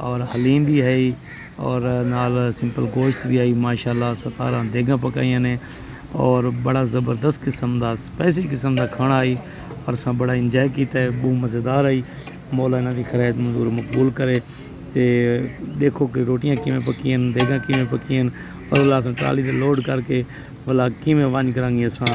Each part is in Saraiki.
اور حلیم بھی ہئی اور نال سمپل گوشت بھی ہئی ماشاء اللہ ستارہ دیگاں پکائیاں نے اور بڑا زبردست قسم دا اسپائسی قسم دا کھانا ہئی اور اساں بڑا انجوائے کیتا ہے بہت مزیدار ہئی مولا انہاں دی خیر منظور مقبول کرے تے دیکھو کہ روٹیاں کیویں پکیاں ہن دیگاں کیویں پکیاں ہن اور اللہ اساں ٹرالی تے لوڈ کر کے بھلا کیویں ونج کرانگے اساں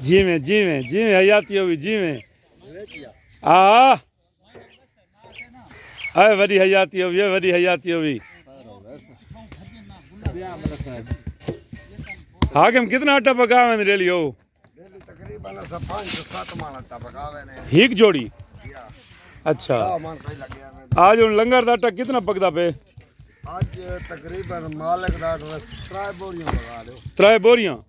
جیویں جیویں جیویں حیاتی ہوئی جیویں آ اے وڈی حیاتی ہوئی اے وڈی حیاتی ہوئی حاکم کتنا اٹا پکا ہوئے ریلی ہو تقریبا سا پانچ سو سات مان اٹا پکا ہوئے ہیک جوڑی اچھا آج ان لنگر دا اٹا کتنا پکدا پہ آج تقریبا مالک دا اٹا ترائے بوریاں پکا دے ترائے بوریاں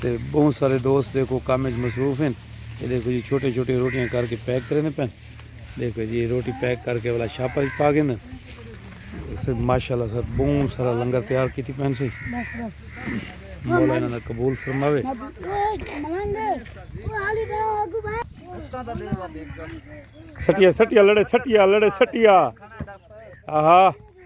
تے بہوں سارے دوست دیکھو کم اچ مصروف ہیں یہ دیکھو جی چھوٹے چھوٹے روٹیاں کر کے پیک کرے نے پین دیکھو جی روٹی پیک کر کے والا شاپر اچ پا گئے نا سب ماشاءاللہ سب بہوں سارا لنگر تیار کیتی پین سی مولا انہاں دا قبول فرماوے سٹیا سٹیا لڑے سٹیا لڑے سٹیا آہا